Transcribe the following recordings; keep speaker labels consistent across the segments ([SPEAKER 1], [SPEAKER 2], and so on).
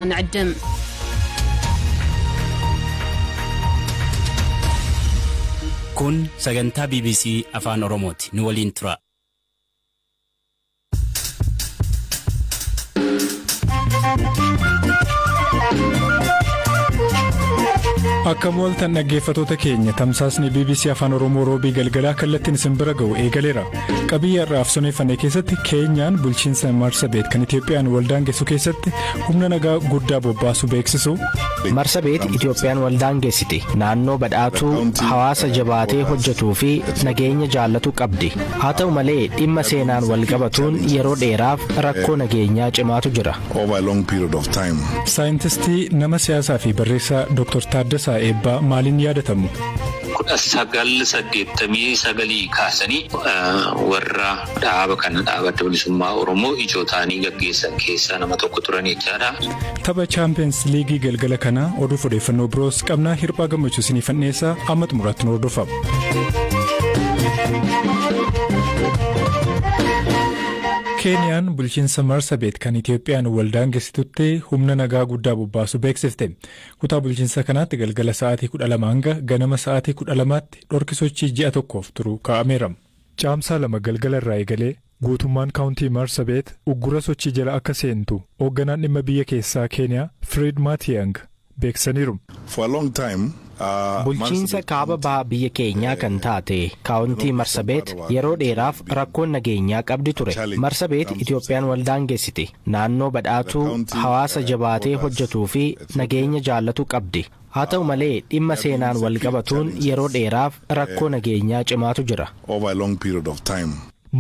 [SPEAKER 1] نعدم.
[SPEAKER 2] Kun sagantaa BBC Afaan Oromooti. Nu waliin turaa.
[SPEAKER 3] Akka mooltan dhaggeeffatoota keenya tamsaasni BBC Afaan Oromoo roobii galgalaa kallattiin isin bira ga'u eegaleera. Qabii har'aaf soneeffanne keessatti keenyaan bulchiinsa Marsabeet kan Itoophiyaan waldaangessu keessatti humna nagaa guddaa bobbaasu beeksisu. Marsabeet
[SPEAKER 4] Itoophiyaan waldaangessiti naannoo badhaatuu hawaasa jabaatee hojjetuu fi nageenya jaallatu qabdi. Haa ta'u malee dhimma seenaan walqabatuun yeroo dheeraaf rakkoo nageenyaa cimaatu jira. Saayintistii
[SPEAKER 3] nama siyaasaa fi barreessaa Dr. Taaddasaa Eebbaa maaliin yaadatamu? 1989
[SPEAKER 5] kaasanii warra dhaaba kana dhaaba Adda Bilisummaa Oromoo ijoo ta'anii gaggeessan keessaa nama tokko turan jechaadha. Tapha Chaampiyeens
[SPEAKER 3] Liigii galgala kanaa oduuf odeeffannoo biroos qabna hirphaa gammachuu siniifan dhiyeessa amma xumuraatti nu hordofa. Keeniyaan bulchiinsa Marsabeet kan Itiyoophiyaan wal daangessitutti humna nagaa guddaa bobbaasuu beeksifte. Kutaa bulchinsa kanaatti galgala sa'aatii 12:00 hanga ganama sa'aatii 12:00tti dhorki sochii ji'a tokkoof turu kaa'ameera. Caamsaa 2 galgala irraa eegalee guutummaan Kaawuntii Maarsabeet uggura sochii jala akka seentu Hoogganaan Dhimma Biyya Keessaa Keeniyaa Firiid Maatiyaang beeksisaniiru. For a long time, uh,
[SPEAKER 4] Bulchiinsa Marsabit kaaba County, baha biyya keenyaa kan eh, taate kaawuntii Marsabeet yeroo dheeraaf rakkoon nageenyaa qabdi ture. Marsabeet Itoophiyaan wal daangessiti. Naannoo badhaatuu, hawaasa jabaatee hojjetuu fi nageenya jaallatu qabdi. Haa ta'u malee, dhimma seenaan wal qabatuun yeroo dheeraaf rakkoo nageenyaa cimaatu jira.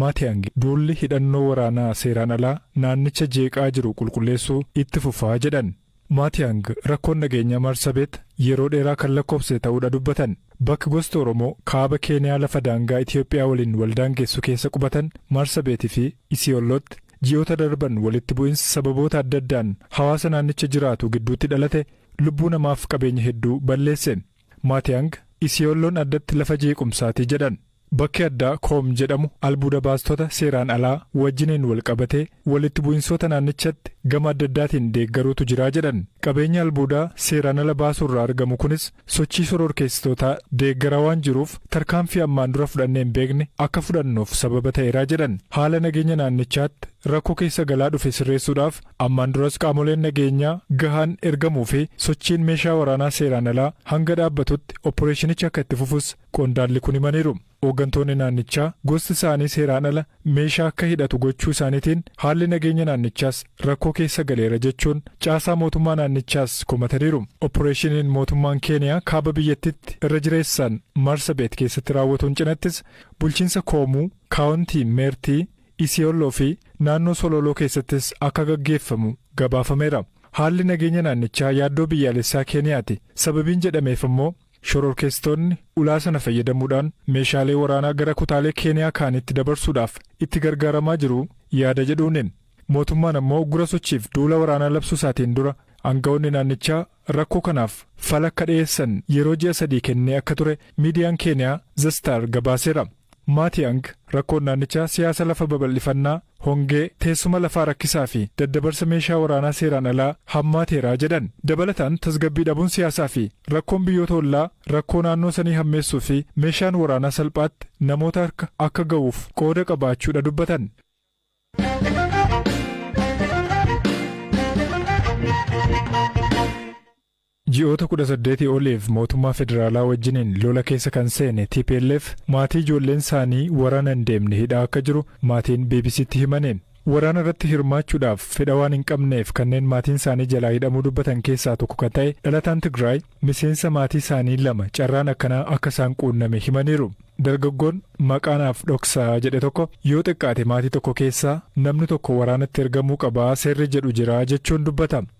[SPEAKER 4] Maatiyaang
[SPEAKER 3] duulli hidhannoo waraanaa seeraan alaa naannicha jeeqaa jiru qulqulleessuu itti fufa jedhan. Maatiyaang rakkoon nageenyaa Maarsabeet yeroo dheeraa kan lakkoofsise ta'uudha dubbatan. Bakk gosti Oromoo kaaba Keeniyaa lafa daangaa Itiyoophiyaa waliin wal daangessu keessa qubatan Maarsabeet fi Isiyollootti ji'oota darban walitti bu'insi sababoota adda addaan hawaasa naannicha jiraatu gidduutti dhalate lubbuu namaaf qabeenya hedduu balleesse. Maatiyaang, Isiyoolloon addatti lafa jeequmsaati jedhan. Bakki addaa Koom jedhamu albuuda baastota seeraan alaa wajjiniin walqabatee walitti bu'insoota naannichatti gama adda addaatiin deeggaruutu jira jedhan. Qabeenyi albuudaa seeraan ala baasuurraa argamu kunis sochii shororkeessitootaa deeggaraa waan jiruuf tarkaanfii ammaan dura fudhannee hin beekne akka fudhannuuf sababa ta'eera jedhan. Haala nageenya naannichaatti rakkoo keessa galaa dhufe sirreessuudhaaf ammaan duras qaamoleen nageenyaa gahaan ergamuufi sochiin meeshaa waraanaa seeraan alaa hanga dhaabbatutti opporeeshinichi akka itti fufus qondaalli kun himaniiru. Hooggantoonni naannichaa gosti isaanii seeraan ala meeshaa akka hidhatu gochuu isaaniitiin haalli nageenya naannichaas rakkoo keessa galeera jechuun caasaa mootummaa naannichaas komataniiru. Oppireeshiniin mootummaan Keeniyaa kaaba biyyattiitti irra jireessaan Maarsabeet keessatti raawwatuun cinattis bulchiinsa Koomuu, Kaawuntii Meertii, Isiyooloo fi naannoo Solooloo keessattis akka gaggeeffamu gabaafameera. Haalli nageenya naannichaa yaaddoo biyyaalessaa Keeniyaati sababiin jedhameef ammoo Shororkeessitoonni ulaa sana fayyadamuudhaan meeshaalee waraanaa gara kutaalee Keeniyaa kaanitti dabarsuudhaaf itti gargaaramaa jiru yaada jedhuuni. Mootummaan ammoo uggura sochiif duula waraanaa labsuusaatiin dura aanga'oonni naannichaa rakkoo kanaaf fala akka dhiyeessan yeroo ji'a sadii kennee akka ture miidiyaan Keeniyaa The Star gabaaseera. Maatiyaang rakkoon naannichaa siyaasa lafa babal'ifannaa, hongee, teessuma lafaa rakkisaa fi daddabarsa meeshaa waraanaa seeraan alaa hammaateera jedhan. Dabalataan tasgabbii dhabuun siyaasaa fi rakkoon biyyoota ollaa rakkoo naannoo sanii hammeessuu fi meeshaan waraanaa salphaatti namoota harka akka ga'uuf qooda qabaachuu dha dubbatan. Ji'oota 18 oliif mootummaa federaalaa wajjiniin lola keessa kan seene tplf maatii ijoolleen isaanii waraana hin deemne hidhaa akka jiru maatiin BBC'tti himani. Waraana irratti hirmaachuudhaaf fedha waan hin qabneef kanneen maatiin isaanii jalaa hidhamuu dubbatan keessaa tokko kan ta'e dhalataan Tigraay miseensa maatii isaanii lama carraan akkanaa akka isaan quunname himaniiru. Dargaggoon maqaa naaf dhoksaa jedhe tokko yoo xiqqaate maatii tokko keessaa namni tokko waraanatti ergamuu qaba seerri jedhu jira jechuun dubbata.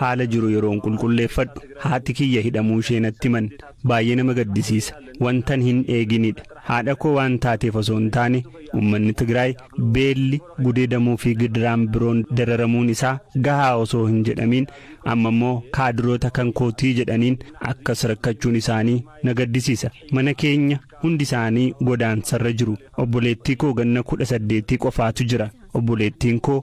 [SPEAKER 2] Haala jiru yeroon qulqulleeffadhu haati kiyya hidhamuushee natti himan. Baay'ee nama gaddisiisa. Wantan hin eeginidha. Haadhakoo waan taateef osoo hin taane ummanni Tigraay beelli, gudeedamuufi gidiraan biroon dararamuun isaa gahaa osoo hin jedhamiin ammammoo kaadiroota kan kootii jedhaniin akkas rakkachuun isaanii na gaddisiisa. Mana keenya hundi isaanii godaansarra jiru. Obboleettiikoo ganna kudha saddeetii qofaatu jira. Obboleettiinkoo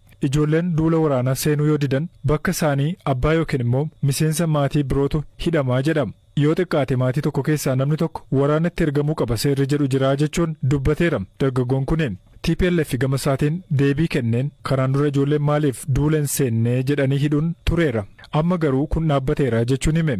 [SPEAKER 3] Ijoolleen duula waraanaa seenuu yoo didan bakka isaanii abbaa yookiin immoo miseensa maatii birootu hidhama jedhama. Yoo xiqqaate maatii tokko keessaa namni tokko waraanatti ergamuu qaba seerri jedhu jira jechuun dubbateera dargaggoon kuni. Tplf gama isaatiin deebii kenneen kanaan dura ijoolleen maaliif duula hin seenne jedhanii hidhuun tureera. Amma garuu kun dhaabbateera jechuun hime.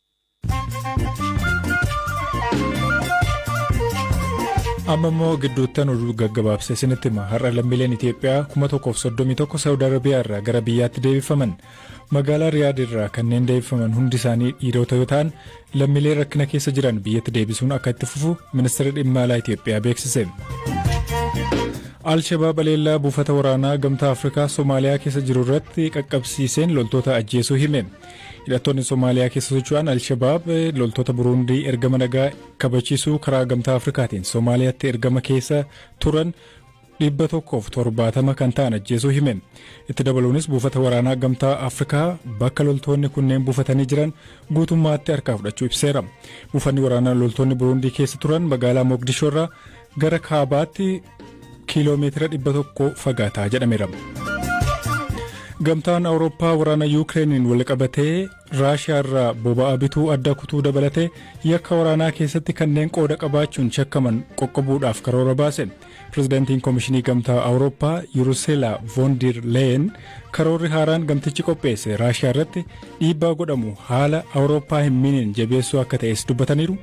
[SPEAKER 3] amma immoo gidduuttan oduu gaggabaabsee isinitti hima har'a lammiileen itiyoophiyaa 1,031 saawud arabiyaa irraa gara biyyaatti deebifaman magaalaa riyaad irraa kanneen deebifaman hundi isaanii dhiirota yoo ta'an lammiilee rakkina keessa jiran biyyatti deebisuun akka itti fufu ministeerri dhimma alaa itiyoophiyaa beeksise. alshabaab aleellaa buufata waraanaa gamtaa afrikaa soomaaliyaa keessa jiru irratti qaqqabsiiseen loltoota ajjeesuu hime. Hidhattoonni Somaaliyaa keessa socho'an Al-Shabaab loltoota Buruundii ergama nagaa kabachiisuu karaa Gamtaa Afrikaatiin Somaaliyaatti ergama keessa turan dhibba tokkoof torbaatama kan ta'an ajjeesuu hime. Itti dabaluunis buufata waraanaa Gamtaa Afrikaa bakka loltoonni kunneen buufatanii jiran guutummaatti harkaa fudhachuu ibseera. Buufanni waraanaa loltoonni Buruundii keessa turan magaalaa Moogdishoo irraa gara kaabaatti kiiloomeetira 100 fagaata jedhameera. Gamtaan Awurooppaa waraana Yuukireeniin walqabatee Raashiyaa irraa boba'aa bituu adda kutuu dabalatee yakka waraanaa keessatti kanneen qooda qabaachuun shakkaman qoqqobuudhaaf karoora baase. Pirezidaantiin Komishinii Gamtaa Awurooppaa Yuruseelaa Voondir Leeyen karoorri haaraan gamtichi qopheesse Raashiyaa irratti dhiibbaa godhamu haala Awurooppaa hin miineen jabeessuu akka ta'es dubbataniiru.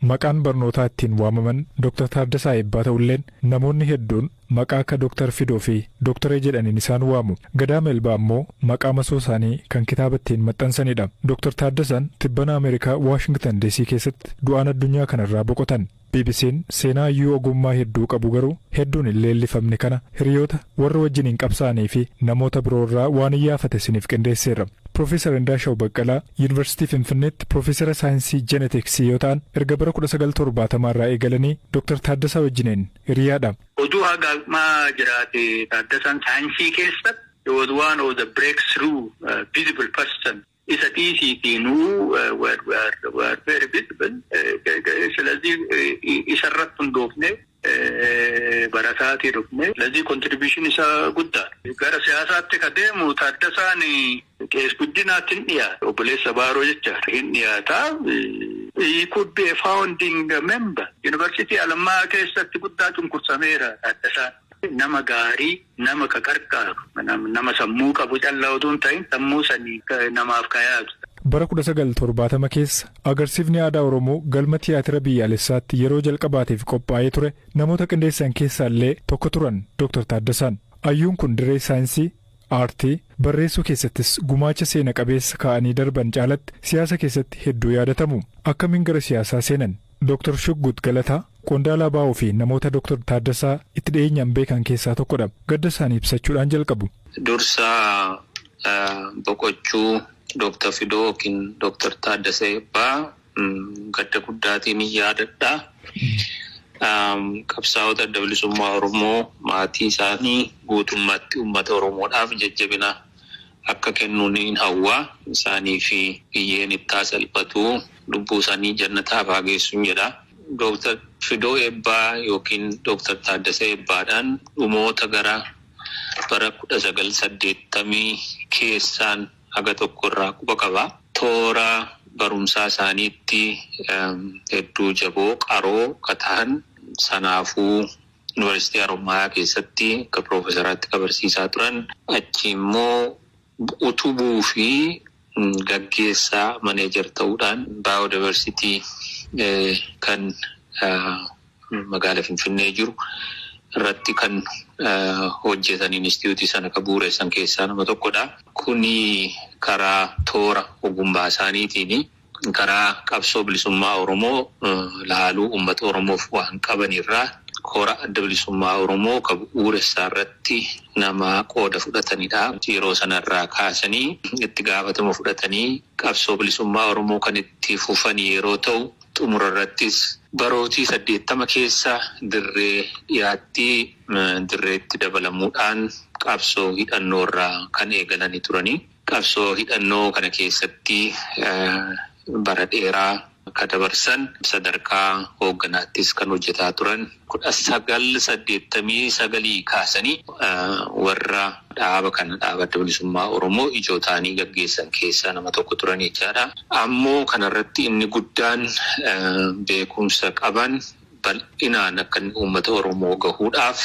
[SPEAKER 3] Maqaan barnootaa ittiin waamaman Dr. Taaddasaa Eebbaa ta'ulleen namoonni hedduun maqaa akka Dr. Fidoo fi Doktaree jedhaniin isaan waamu. Gadaa Melbaa ammoo maqaa masoo isaanii kan kitaaba ittiin maxxansanidha. Dr. Taaddasaan tibbana Ameerikaa Waashingtan DC keessatti du'aan addunyaa kanarraa boqotan. BBC'n seenaa hayyuu ogummaa hedduu qabu garuu hedduun hin leellifamne kana hiriyoota, warra wajjiniin qabsaa'anii fi namoota biroo irraa waan iyyaafate isiniif qindeesseerra. Piroofeesar Indaashaw Baqqalaa Yuunivarsiitii Finfinneetti Piroofeesara Saayinsii Jenetiksii yoo ta'an erga bara 1970 irraa eegalanii Dr. Taaddasaa wajjiniin hiriyaa dha. Oduu haga ammaa
[SPEAKER 6] jiraate Taaddasaan saayinsii keessa he was one of the breakthrough visible person. Isa dhiisiitii nuu what we are we are very visible silazii isa irratti hundoofnee barasaatii dhufnee silazii contribution isaa guddaadha. Gara siyaasaatti ka deemu Taaddasaan Qees Guddinaatti hin dhiyaata. Obboleessa Baaroo jechaadha. Hin dhiyaata. He could be a founding member. Yuunivarsiitii Alammaa keessatti guddaa cunqursameera Taaddasaan. Nama gaarii Nama ka qarqaaru, nama sammuu qabu calla utuu hin ta'in sammuu saniin namaaf ka yaadu. Bara kudha sagal
[SPEAKER 3] torbaatama keessa agarsiifni aadaa Oromoo Galma Tiyaatira Biyyaalessaatti yeroo jalqabaatiif qophaa'ee ture namoota qindeessan keessaa illee tokko turan Doktar Taaddasaan. Ayyuun kun dirree saayinsii, aartii, barreessuu keessattis gumaacha seena qabeessa kaa'anii darban caalatti siyaasa keessatti hedduu yaadatamu. Akkamiin gara siyaasaa seenan? Doktar Shuggut Galataa qondaala abo fi namoota Doktar Taaddasaa itti dhiyeenyaan beekan keessaa tokkodha. Gadda isaanii ibsachuudhaan jalqabu. Dursa
[SPEAKER 5] boqochuu Doktar Fidoo ykn Doktar Taaddasa Eebbaa gadda guddaatiinin yaadadha. Qabsaa'ota Adda Bilisummaa Oromoo, maatii isaanii, guutummaatti uummata Oromoodhaaf jajjabina akka kennu niin hawwa. Isaaniifi biyyeen itti haa salphatu, lubbuusaanii jannataaf haa geessun jedha. Doktar Fidoo Eebbaa ykn Doktar Taaddasa Eebbaadhaan dhumoota gara bara kudha sagal saddeettamii keessaan haga tokko irraa quba qaba. Toora barumsaa isaaniitti hedduu jaboo, qaroo ka tahan sanaafuu Yunivarsiitii Harommayaa keessatti akka piroofesaraatti ka barsiisaa turan. Achii immoo utubuu fi gaggeessaa, manager, ta'uudhaan Biodiversity kan magaala Finfinnee jiru irratti kan hojjetan, inistitiyuutii sana ka bu'ureessan keessaa nama tokko dha. Kuni karaa toora ogummaasaaniitiini. karaa qabsoo bilisummaa Oromoo laaluu uummata Oromoof waan qaban irraa kora Adda Bilisummaa Oromoo ka bu'uuressa irratti nama qooda fudhatani dha. Yeroo sana irraa kaasanii itti gaafatama fudhatanii qabsoo bilisummaa Oromoo kan itti fufan yeroo ta'u, xumura irrattis barootii 80 keessa dirree dhiyaatti dirreetti dabalamuu dhaan qabsoo hidhannoo irraa kan eegalani turani. Qabsoo hidhannoo kana keessatti bara dheeraa ka dabarsan, sadarkaa hoogganaattis kan hojjetaa turan, 1989 kaasanii warra dhaaba kana, Dhaaba Adda Bilisummaa Oromoo, ijoo ta'anii gaggeessan keessaa nama tokko turan jechaadha. Ammoo kanarratti inni guddaan beekumsa qaban, bal'inaan akka inni uummata Oromoo gahuudhaaf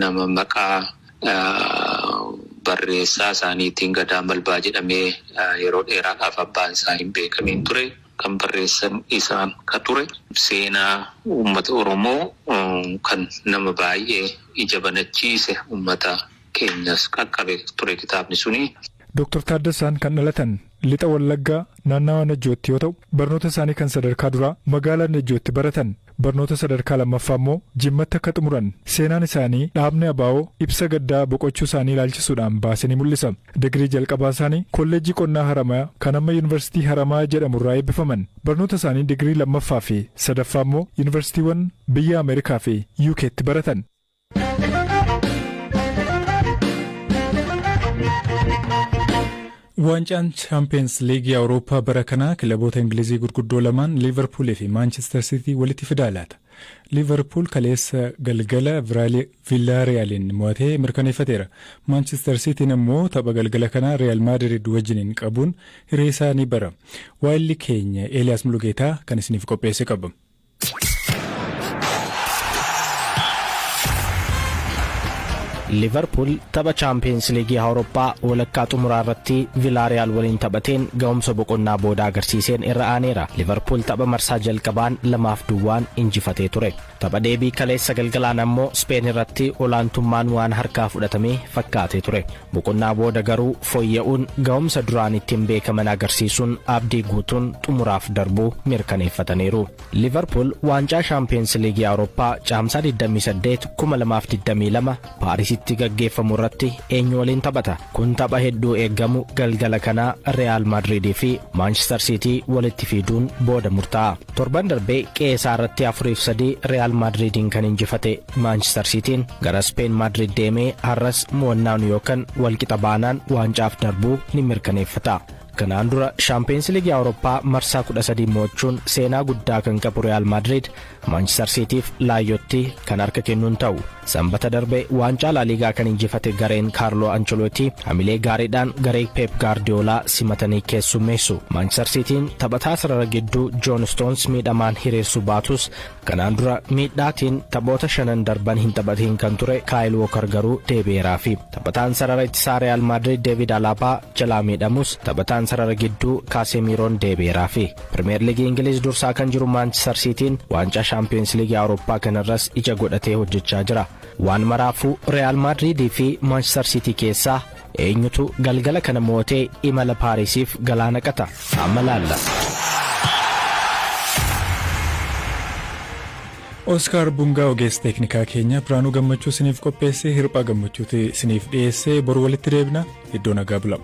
[SPEAKER 5] nama maqaa barreessaa isaaniitiin Gadaa Malbaa jedhamee yeroo dheeraadhaaf abbaan isaa hin beekamiin ture kan barreessan isaan ka ture. Seenaa uummata Oromoo kan nama baay'ee ija banachiise uummata keenyas qaqqabe ture kitaabni suni. Doktar Taaddasaan
[SPEAKER 3] kan dhalatan Lixa Wallaggaa naannawaa Najjootti yoo ta'u, barnoota isaanii kan sadarkaa duraa magaalaa Najjootti baratan. Barnoota sadarkaa lammaffaa immoo Jimmatti akka xumuran seenaan isaanii dhaabni abo ibsa gaddaa boqochuu isaanii ilaalchisuudhaan baase ni mul'isa. Digirii jalqabaa isaanii Kolleejjii Qonnaa Haramaya kan amma Yunivarsiitii Haramaya jedhamu irraa eebbifaman. Barnoota isaanii digirii lammaffaa fi sadaffaa immoo yunivarsiitiiwwan biyya Ameerikaa fi UKtti baratan. Waancaan Chaampiyeens Liigii Awurooppaa bara kanaa kilaboota Ingilizii gurguddoo lamaan Liivarpuulii fi Maanchister Siitii walitti fidaa laata. Liivarpuul kaleessa galgala Villaariyaaliin mo'atee mirkaneeffateera. Maanchister Siitiin ammoo tapha galgala kanaa Riyaal Maadirid wajjiniin qabuun hireesaa ni bara. Waayilli keenya Eeliyaas Mulugeetaa kan isiniif qopheesse qaba.
[SPEAKER 4] liverpuul tapha chaampiyeens liigii awurooppaa walakkaa xumuraa irratti vilaariyaal waliin taphateen ga'umsa boqonnaa booda agarsiiseen irra aaneera liverpuul tapha marsaa jalqabaan lamaaf duwwaan injifatee ture tapha deebii kaleessa galgalaan ammoo speen irratti olaantummaan waan harkaa fudhatame fakkaatee ture Boqonnaa booda garuu fooyya'uun ga'umsa duraan ittiin beekaman agarsiisuun abdii guutuun xumuraaf darbuu mirkaneeffataniiru. Liivarpuul waancaa Shaampiyoonsi Liigii Awurooppaa Caamsaa 28, 2022 Paarisitti gaggeeffamu irratti eenyu waliin taphata? Kun tapha hedduu eeggamu galgala kanaa Riyaal Maadriidii fi Maanchistar Siitii walitti fiiduun booda murtaa'a. Torban darbe qe'ee isaa irratti 4 fi 3 Riyaal Maadriidiin kan injifate Maanchistar Siitiin gara Ispeen Maadriid deemee har'as mo'annaan yookan walqixa baanaan waancaaf darbuu ni mirkaneeffata. Kanaan dura Shaampiyeens Liigii Awurooppaa marsaa 13 mo'achuun seenaa guddaa kan qabu Riyaal Maadriid Maanchistar Siitiif Laayyotti kan harka kennu hin ta'u. Sanbata darbe waancaa Laaliigaa kan injifate gareen Kaarloo Ancholootii hamilee gaariidhaan garee Peep Gaardiyoolaa simatanii keessummeessu. Maanchistar Siitiin taphataa sarara gidduu Joon Istoons miidhamaan hiriirsuu baatus Kanaan dura miidhaatiin taphoota shanan darban hin taphatiin kan ture Kaayil Wookar garuu deebi'eeraafi. Taphataan sarara ittisaa Riyaal Maadriid Deeviid Alaabaa jalaa miidhamus taphataan sarara gidduu Kaasemiiroon deebi'eeraafi. Pirimeer Liigii Ingiliiz dursaa kan jiru Maanchistar Siitiin waancaa Shaampiyoonsi Liigii Awurooppaa kanarras ija godhatee hojjechaa jira. Waan maraafuu Riyaal Maadriidii fi Maanchistar Siitii keessaa Eenyutu galgala kana mo'atee imala Paarisiif galaa naqata? Amma laalla.
[SPEAKER 3] Oskaar Bungaa ogeessa teeknikaa keenya Biraanuu Gammachuu isiniif qopheessee hirphaa gammachuuti isiniif dhiyeessee boru walitti deebina iddoo nagaa bulaa.